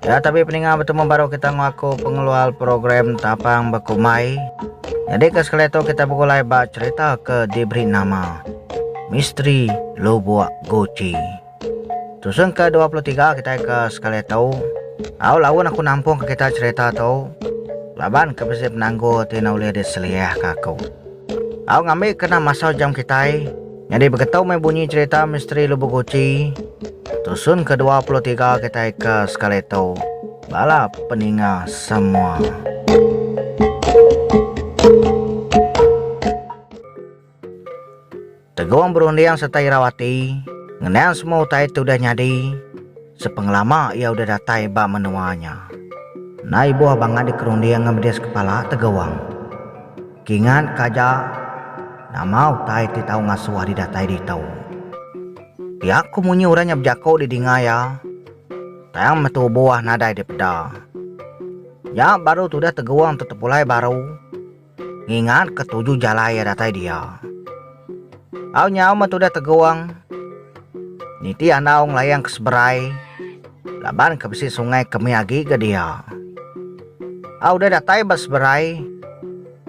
Ya tapi peninga bertemu baru kita ngaku pengeluar program tapang bekumai. Jadi ke sekali tu kita begulai ba cerita ke diberi nama Misteri Lubuk Guci. Tusung ke 23 kita ke sekali tu. Au lawan aku nampung ke kita cerita tu. Laban ke besi penanggul ti nak boleh diseliah ke aku. Au ngambil kena masa jam kita. Nyadi begetu meh bunyi cherita misteri Lubuk Guci tusun ke dua puluh tiga kitai ke sekali tu bala peninga semua. Tegong berunding serta irau ati ngenang semua utai ti udah nyadi sepengelama iya udah datai ba menua nya. Enda ibuh bangat dikerunding ngemedes kepala Tegong. Kingat ka aja, nama utai ti tau ngasuh ari datai ditu. Pia ku munyi orang nya bejaku di dinga iya, tang meh tubu ah nadai dipeda. Nya baru tudah teguang tu tepulai baru ngingat ka tuju jalai iya datai dia. Au nyau meh tudah Tegong. Nitih andau ngelayang ke seberai laban ke bisi sungai ke mih agi ga dia. Au udah datai ba seberai,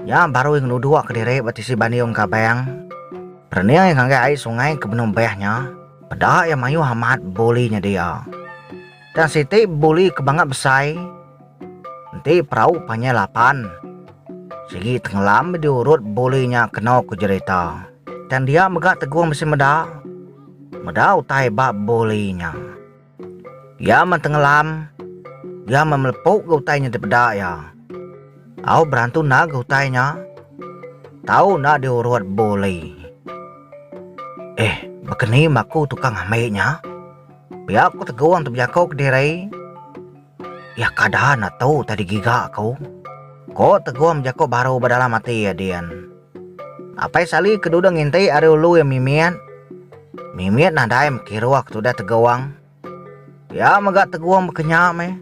nya baru ia ngeluduk ke diri ba tisi bandiung Gabang. Perening ia ngagai ai sungai ke benung beh nya, peda ia mayuh amat buli nya dia. Tang siti buli ke bangat besai enti perau panjai lapan. Sigi tengelam di urut buli nya keno ku jerita. Tang dia mega Tegong bisi meda meda utai ba buli nya. Iya men tengelam iya men melepu ga utai nya dipeda iya. Au berantu enda ga utai nya tau enda di urut buli. Eh baka ni maku tukang ambi nya. Pia ku Tegong tu bejako ke diri. Iya kada enda tu tadi giga aku. Ko Tegong bejako baru ba dalam ati iya din. Apai Sali ke dudung nginti ari ulu iya Mimit. Mimit nadai mekiruh ke tudah Tegong. Pia mega Tegong bekenya meh.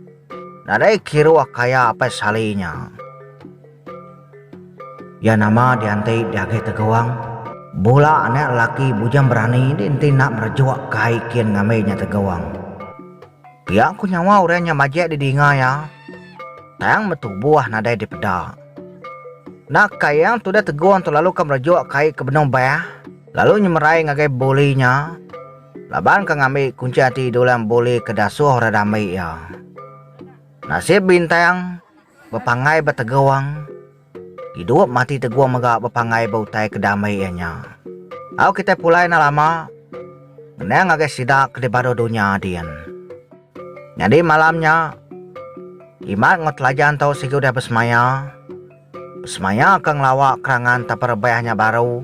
Nadai kiruh kaya Apai Sali nya. Iya nama dianti diagih Teguang. Bula anak lelaki bujang berani di enti enda merejuk ke ai kin ngambi nya Teguang. Pia ku nyawa orang nya majek di dinga iya. Tang betubuh nadai dipeda. Enda ka iya tudah Teguang tu lalu ka merejuk ke ai ke benung bah lalu nyemerai ngagai buli nya laban ka ngambi kunchi ati diulang buli ke dasuh orang dambi iya. Nasib Bintang. Bepanggai ba tegung. Idup mati tegung mega bepanggai ba utai ke dame iya nya. Au kitai pulai enda lama ngenang ngagai sida ke dibaruh dunya din. Nyadi malam nya, Imat enggau Telajan tu sigi udah besemaya. Besemaya ke ngelawa kerangan teperebah nya baru,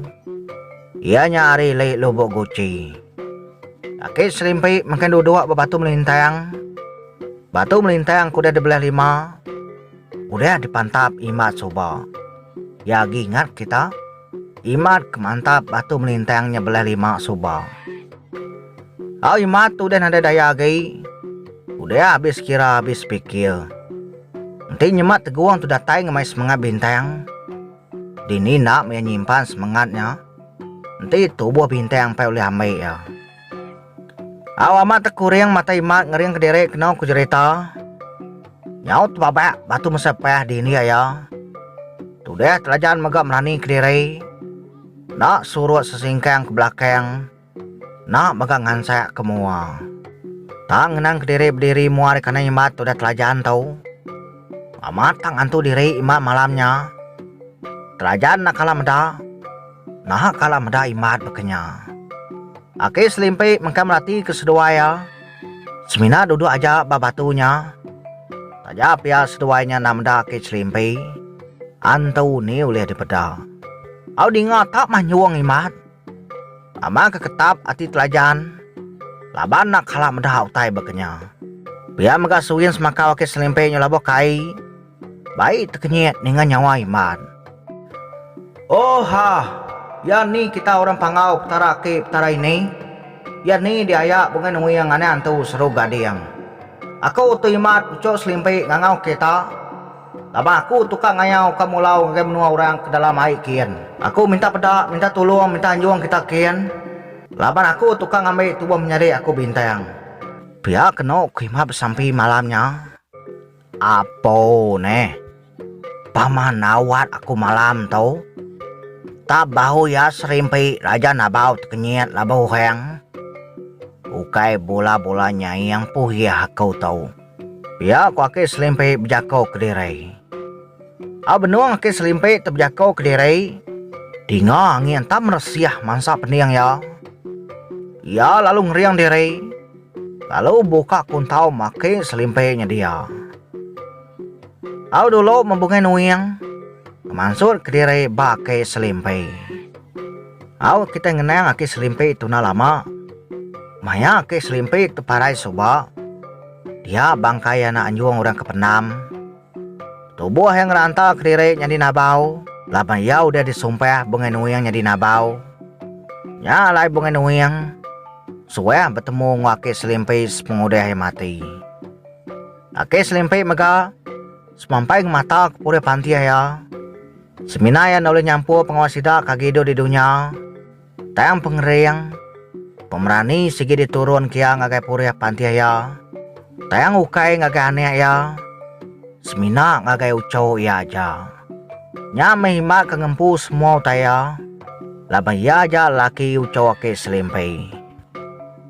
iya nya ari Lei Lubok Guci. Laki serimpi mengkang duduk ba batu melintang. Batu melintang ke udah dibelah lima udah dipantap imat suba. Iya agi ingat kita, imat ke mantap batu melintang nya belah lima suba. Au imat tu udah nadai daya agi, udah abis kira abis pikir. Enti nyemat tegung tu datai ngemai semengat bintang, dini enda meh iya nyimpan semengat nya, enti tubuh bintang pai ulih ambi iya. Au amat tekuring mata imat ngering kediri keno ku jerita. Nyau tebabak batu mesa pah di india iya. Tudah telajan mega melani kediri. Enda surut sesingkang ke belakang. Enda mega ngansak ke mua. Tang ngenang kediri bediri mua ari kanai imat tudah telajan tu. Amat tang ngantu diri imat malam nya. Telajan enda kala meda. Naha kala meda imbat baka nya. Aki Selimpi mengkang merati ke seduai iya semina duduk aja ba batu nya. Taja pia seduai nya enda meda Aki Selimpi, antu ni ulih dipeda. Au dinga tak mah nyuong imbat. Ama ke ketap ati Telajan laban enda kala meda utai baka nya. Pia mega Suin semakau Aki Selimpi nyelabuh kai. Bai tekenyit ninga nyawa Iman. Ohh-hah! Iya ni kita orang Panggau Petara aki Petara ini? Iya ni diaya bunga nuing anak entu seru gading. Aku tu Imat puchuk selimbi ngangau kereta. Laban aku tukang ngayau ka mulau ngagai menua orang ke dalam ai kin. Aku minta peda, minta tulung, minta anjung kita kin. Laban aku tukang ngambi tubuh menyadi aku bintang. Pia kenu ku Imat besampi malam nya. Apo neh. Pama nawat aku malam tu. Tap bahu iya serimpi raja nabau tekenyit laban orang. Ukai bula-bula nyaing puhih aku tu. Pia ku Aki Selimpi bejako kediri. Au benung Aki Selimpi tu bejako kediri, dinga angin tap meresih mansa pening iya. Iya lalu ngering diri. Lalu buka kuntau maki selimpi nyedia. Au dulu membungi nuing ngemansut kediri ba aki selimpi. Au kitai ngenang aki selimpi tuna lama. Maya aki selimpi teparai suba, dia bangkai anak anjung orang ke pendam. Tubuh iya ngeranta kediri nyadi nabau laban iya udah disumpah Bungai Nuing nyadi nabau. Nya alai Bungai Nuing suah betemu enggau Aki Selimpi sepengudah iya mati. Aki Selimpi mega semampai ngemata ke purih pantih iya semina iya nda ulih nyampur pengawa sida ke agi duduk di dunya. Tang pengering, pemerani sigi diturunka iya ngagai purih pantih iya, tang ukai ngagai anak iya, semina ngagai uchu iya aja. Nya meh imbak ke ngempu semua utai iya, laban iya aja lelaki uchu Aki Selimpi.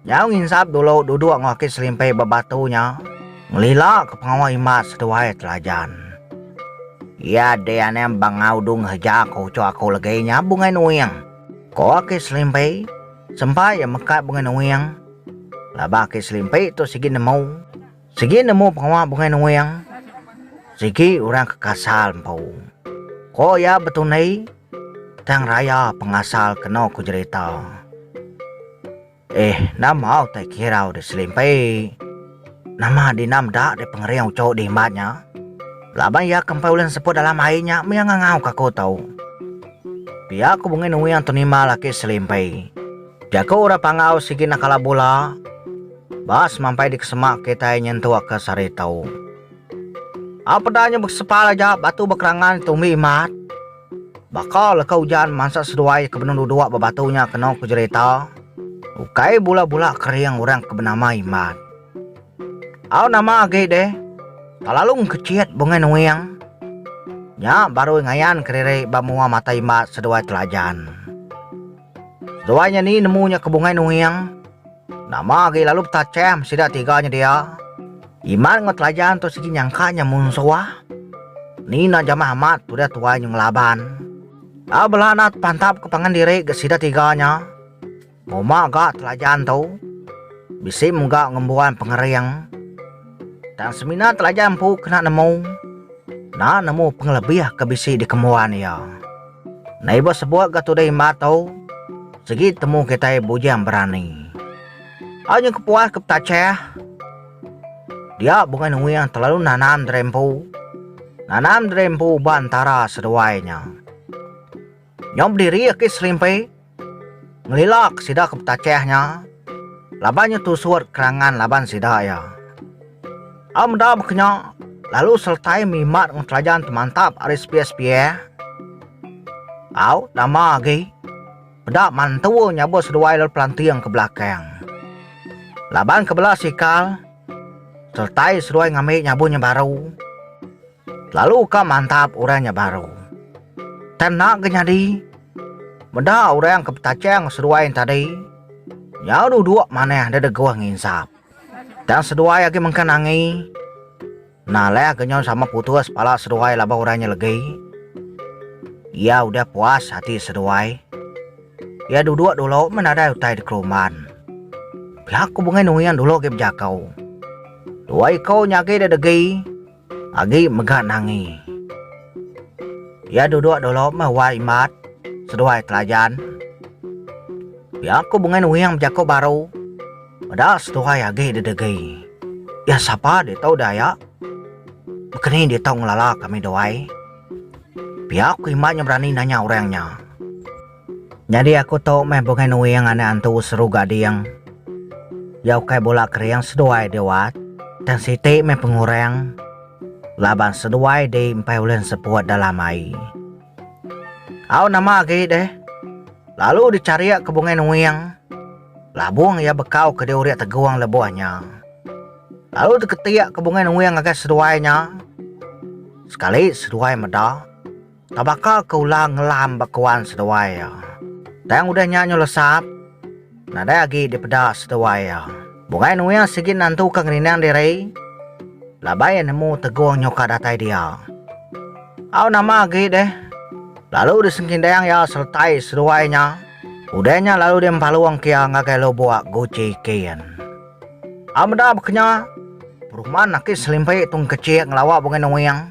Nyau nginsap dulu duduk enggau aki selimpi ba batu nya, ngelilaka pengawa Imas seduai Telajan. Iya deh anai amba enggau Dung Heja ke uchu aku legi nya Bungai Nuing, ko aki selimpi, sempa iya mekat Bungai Nuing. Laban aki selimpi tu sigi nemu. Sigi nemu pengawa Bungai Nuing, sigi orang ke kasal empu. Ko iya betundi tang raya pengasal keno ku jerita. Eh enda mau tai kirau deh selimpi. Nama dina meda deh pengering uchu deh imbat nya. Laban iya ke empai ulih neseput dalam ai nya mih iya ngangau ka aku tu. Pia ku Bungai Nuing tunimbal aki selimpi. Jaku orang Panggau sigi enda kala bula. Ba semampai dikesemak kitai nyentukka sehari tau. A Peda nya bekesepal aja batu bekerangan ditumbi imat. Baka leka ujan mansa seduai iya ke benung duduk ba batu nya kena ku jerita, ukai bula-bula kering orang ke benama Imat. Au nama agi deh, talalu engkechit bungai nuing. Nya barui ngayan kediri ba mua mata Imat seduai Telajan. Seduai nya ni nemu nya ke bungai nuing. Nama agi lalu betacham sida tiga nya dia? Iman enggau Telajan tu sigi nyangka nya munsuh. Ni enda jamah amat tudah tuai nyu ngelaban. Au bela enda tepantapka pangan diri ga sida tiga nya. Muma ga Telajan tu bisi mega ngembuan pengering. Tang semina Telajan empu kena nemu, enda nemu pengelebih ke bisi dikembuan iya. Nadai ba sebuk ga tudah imba tu, sigi temu kitai bujang berani. Au nyengku puas ke petachah. Dia bungai nuing telalu nanam diri empu. Nanam diri empu ba entara seduai nya. Nyau bediri aki selimpi. Ngelilak sida ke betachah nya laban nya tusut kerangan laban sida iya. Au meda baka nya, lalu seletai mimat enggau telajan temantap ari sepiak-sepiak, au nama agi peda mantu nyabut seduai lalu pelanting ke belakang. Laban ke bela sikal seletai seduai ngambi nyabunnya baru. Lalu ka mantap orang nya baru. Tang enda ke nyadi. Meda orang ke betachang seduai nya tadi, nyau duduk manah deda guh nginsap. Tang seduai agi mengkang angi. Nah alah ke nyau sama putus pala seduai laban orang nya legi. Iya udah puas ati seduai. Iya duduk dulu meh nadai utai dikelumban. Pia ku bungai nuing dulu agi bejako. Dua iko nya agi deda gi. Agi mega Nangi. Iya duduk dulu meh wai Imbat seduai Telajan. Pia ku Bungai Nuing bejaku baru meda seduai agi didegi. Iya sapa ditu deh aya? Bekeni ditu ngelala kami duai? Pia ku Imbat nya berani nanya orang nya. Nyadi aku tu meh bungai nuing anak antu seru gading. Ya ukai bula kering seduai di wat, tang siti meh pengurang laban seduai di empai ulih enseput dalam ai. Au nama agi deh, lalu dicharik ke bungai nuing, labung iya bekau ke diurik tegung lebuh nya. Lalu diketik ke bungai nuing ngagai seduai nya, sekali seduai meda. Tang baka ke ular ngelam ba kewan seduai iya. Tang udah nya nyelesap, nadai agi dipeda seduai iya. Bungai Nuiah sigi nantu ke ngerindang diri laban iya nemu Tegong nyuka datai dia. Au nama agi deh lalu disengkindang iya seretai seduai nya. Udah nya lalu diempalung ke iya ngagai lubok guci kin. Au meda baka nya, peruman aki selimpi Tung Kecik ngelawa Bungai Nuiah.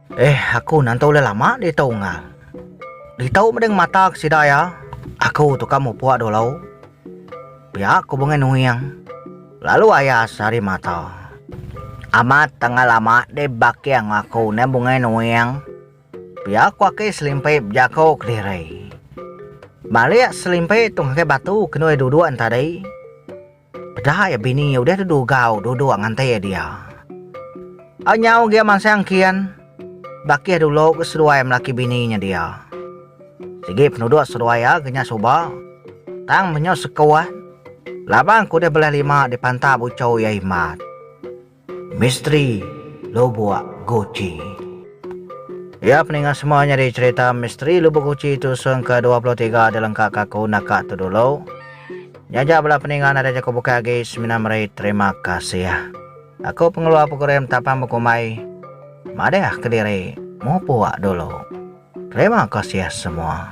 Eh aku nanta ulih lama ditu enggau. Ditu meda ngemata ke sida iya, aku tu ka mupuk dulu. Pia ku Bungai Nuing lalu aya sehari mata. Amat tengah lama deh baki enggau aku neh Bungai Nuing. Pia ku aki Selimpi bejaku kediri. Balik Selimpi tu ngagai batu kenui duduk ntadi. Peda iya bini iya udah dedu gau duduk ngante dia. Ai nyau gia mansang kian bakih dulu ke seduai melaki bini nya dia. Sigi penuduk seduai iya ke nya suba tang menyau sekuat labang ke udah belah lima dipantap uchu iya himat. Misteri Lubuk Guci. Iya peninga semua nyadi cherita Misteri Lubuk Guci tusung ke dua puluh tiga dilengkaka aku naka tu dulu. Nyaja bela peninga nadai jaku bukai agi semina meri terima kasih. Aku pengeluar program Tapang Bekumbai madahka diri mupuk dulu. Terima kasih semua.